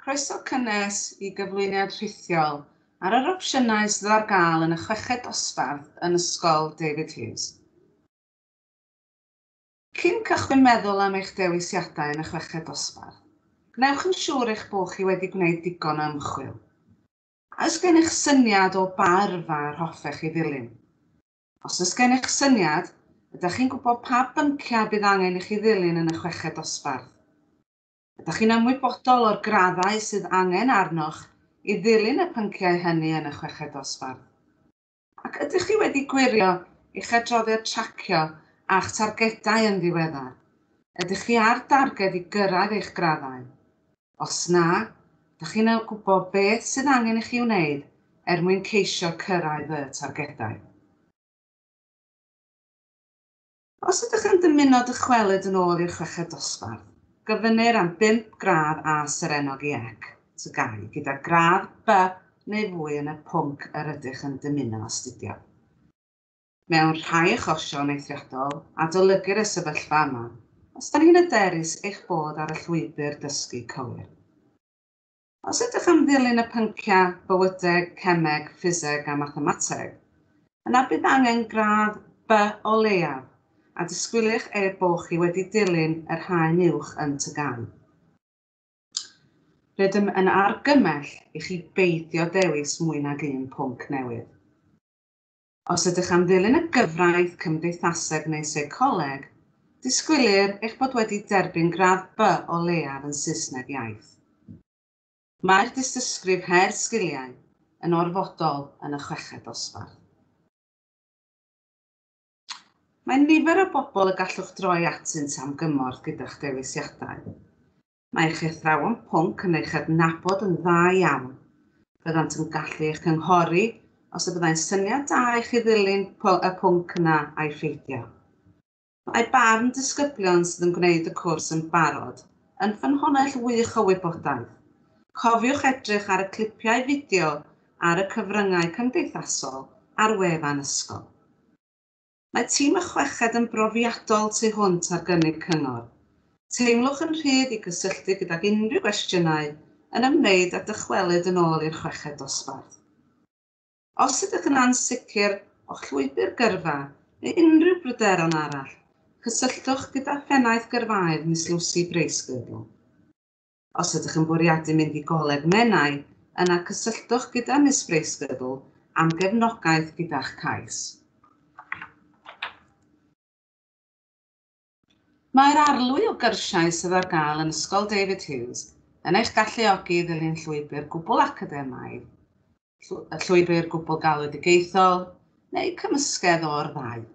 Croeso cynnes i gyflwyniad rhithiol ar yr opsiynau sydd ar gael yn y chweched dosbarth yn Ysgol David Hughes. Cyn cychwyn meddwl am eich dewisiadau yn y chweched dosbarth, gwnewch yn siŵr eich bod chi wedi gwneud digon o ymchwil. A oes gennych syniad o ba yrfa yr hoffech chi ddilyn? Os oes gennych syniad, ydych chi'n gwybod pa bynciau bydd angen i chi ddilyn yn y chweched dosbarth? Ydych chi'n ymwybodol o'r graddau sydd angen arnoch i ddilyn y pynciau hynny yn y chweched dosbarth? Ac ydych chi wedi gwirio eich adroddiad tracio a'ch targedau yn ddiweddar? Ydych chi ar darged i gyrraedd eich graddau? Os na, dych chi'n gwybod beth sydd angen i chi wneud er mwyn ceisio cyrraedd y targedau. Os ydych yn dymuno dychwelyd yn ôl i'r chweched dosbarth, gofynnir am bump gradd A serennog i ec, tygau, gyda gradd B neu fwy yn y pwnc yr ydych yn dymuno astudio. Mewn rhai achosion eithriadol, adolygir y sefyllfa yma, os da ni'n hyderus eich bod ar y llwybr dysgu cywir. Os ydych am ddilyn y pynciau bywydeg, cemeg, ffiseg a mathemateg, yna bydd angen gradd By o leiaf, a disgwylir er bo chi wedi dilyn yr haen uwch yn TGAU. Rydym yn argymell i chi beidio dewis mwy nag un pwnc newydd. Os ydych am ddilyn y gyfraith cymdeithaseg neu seicoleg, disgwylir eich bod wedi derbyn gradd By o leiaf yn Saesneg iaith. Mae'r dystysgrif Her Sgiliau yn orfodol yn y chweched dosbarth. Mae nifer o bobl y gallwch droi atynt am gymorth gyda'ch dewisiadau. Mae eich athrawon pwnc yn eich adnabod yn dda iawn. Byddant yn gallu eich cynghori os y byddai'n syniad da i chi ddilyn y pwnc yna a'i pheidio. Mae barn disgyblion sydd yn gwneud y cwrs yn barod yn ffynhonnell wych o wybodaeth. Cofiwch edrych ar y clipiau fideo ar y cyfryngau cymdeithasol a'r wefan ysgol. Mae tîm y chweched yn brofiadol tu hwnt ar gynnig cyngor. Teimlwch yn rhydd i gysylltu gydag unrhyw gwestiynau yn ymwneud â dychwelyd yn ôl i'r chweched dosbarth. Os ydych yn ansicr o'ch llwybr gyrfa neu unrhyw bryderon arall, cysylltwch gyda Phennaeth Gyrfaoedd Miss Lucy Bracegirdle. Os ydych yn bwriadu mynd i Goleg Menai, yna cysylltwch gyda Miss Bracegirdle am gefnogaeth gyda'ch cais. Mae'r arlwy o gyrsiau sydd ar gael yn Ysgol David Hughes yn eich galluogi i ddilyn llwybr gwbl academaidd, llwybr gwbl galwedigaethol, neu cymysgedd o'r ddau.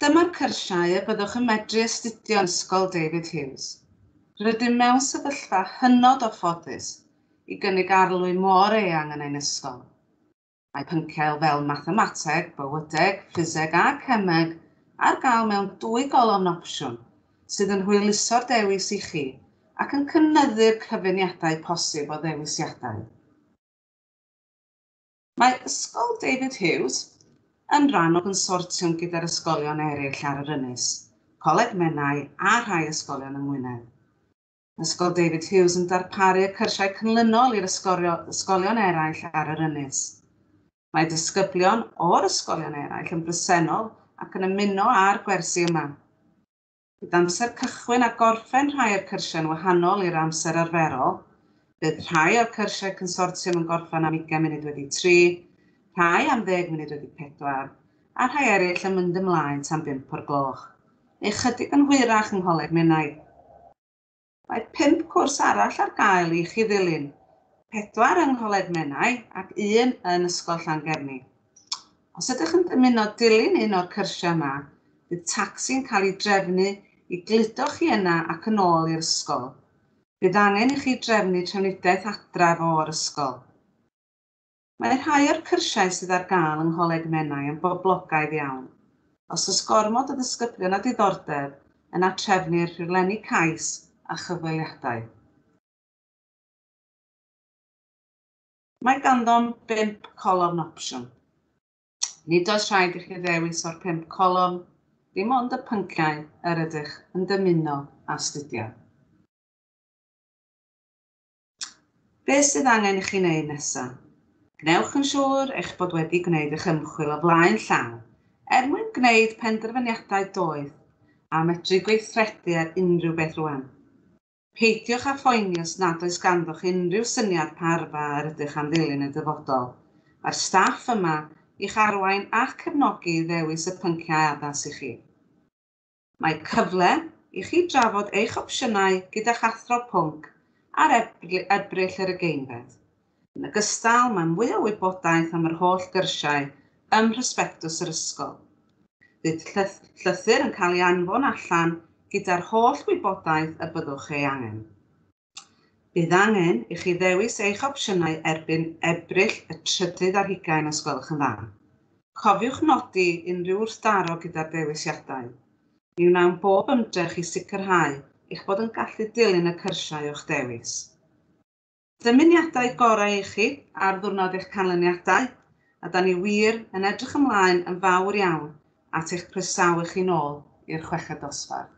Dyma'r cyrsiau y byddwch yn medru astudio yn Ysgol David Hughes. Rydym mewn sefyllfa hynod o ffodus i gynnig arlwy mor eang yn ein ysgol. Mae pynciau fel Mathemateg, Bywydeg, Ffiseg a Cemeg ar gael mewn dwy golofn opsiwn, sydd yn hwyluso'r dewis i chi ac yn cynyddu'r cyfuniadau posib o ddewisiadau. Mae Ysgol David Hughes yn rhan o gonsortiwm gyda'r ysgolion eraill ar yr ynys, Coleg Menai a rhai ysgolion yng Ngwynedd. Mae Ysgol David Hughes yn darparu y cyrsiau cynlynol i'r ysgolion eraill ar yr ynys. Mae disgyblion o'r ysgolion eraill yn bresennol ac yn ymuno â'r gwersi yma. Bydd amser cychwyn a gorffen rhai o'r cyrsiau'n wahanol i'r amser arferol. Bydd rhai o'r cyrsiau consortiwm yn gorffen am 20 munud wedi 3, rhai am ddeg munud wedi 4, a rhai eraill yn mynd ymlaen tan bump o'r gloch, neu ychydig yn hwyrach yng Ngholeg Menai. Mae pump cwrs arall ar gael i chi ddilyn, pedwar yng Ngholeg Menai ac un yn Ysgol Llangefni. Os ydych yn dymuno dilyn un o'r cyrsiau yma, bydd tacsi'n cael ei drefnu i gludo chi yna ac yn ôl i'r ysgol. Bydd angen i chi drefnu trafnidiaeth adref o'r ysgol. Mae rhai o'r cyrsiau sydd ar gael yng Ngholeg Menai yn boblogaidd iawn. Os oes gormod o ddisgyblion â diddordeb, yna trefnir rhaglenni cais a chyfweliadau. Mae ganddom bump colofn opsiwn. Nid oes rhaid i chi ddewis o'r pump colofn, dim ond y pynciau yr ydych yn dymuno astudio. Beth sydd angen i chi wneud nesaf? Gwnewch yn siŵr eich bod wedi gwneud eich ymchwil o flaen llaw er mwyn gwneud penderfyniadau doeth a medru gweithredu ar unrhyw beth rwan. Peidiwch â phoeni os nad oes ganddoch unrhyw syniad pa yrfa yr ydych am ddilyn y dyfodol. Mae'r staff yma i'ch arwain ac cefnogi i ddewis y pynciau addas i chi. Mae cyfle i chi drafod eich opsiynau gyda'ch athro pwnc ar Ebrill yr ugeinfed. Yn ogystal, mae mwy o wybodaeth am yr holl gyrsiau ym mhrosbectws yr ysgol. Bydd llythyr yn cael ei anfon allan gyda'r holl wybodaeth y byddwch ei angen. Bydd angen i chi ddewis eich opsiynau erbyn Ebrill y trydydd ar hugain os gwelwch yn dda. Cofiwch nodi unrhyw wrthdaro gyda'r dewisiadau. Mi wnawn bob ymdrech i sicrhau eich bod yn gallu dilyn y cyrsiau o'ch dewis. Dymuniadau gorau i chi ar ddiwrnod eich canlyniadau, a da ni wir yn edrych ymlaen yn fawr iawn at eich croesawu chi'n ôl i'r chweched dosbarth.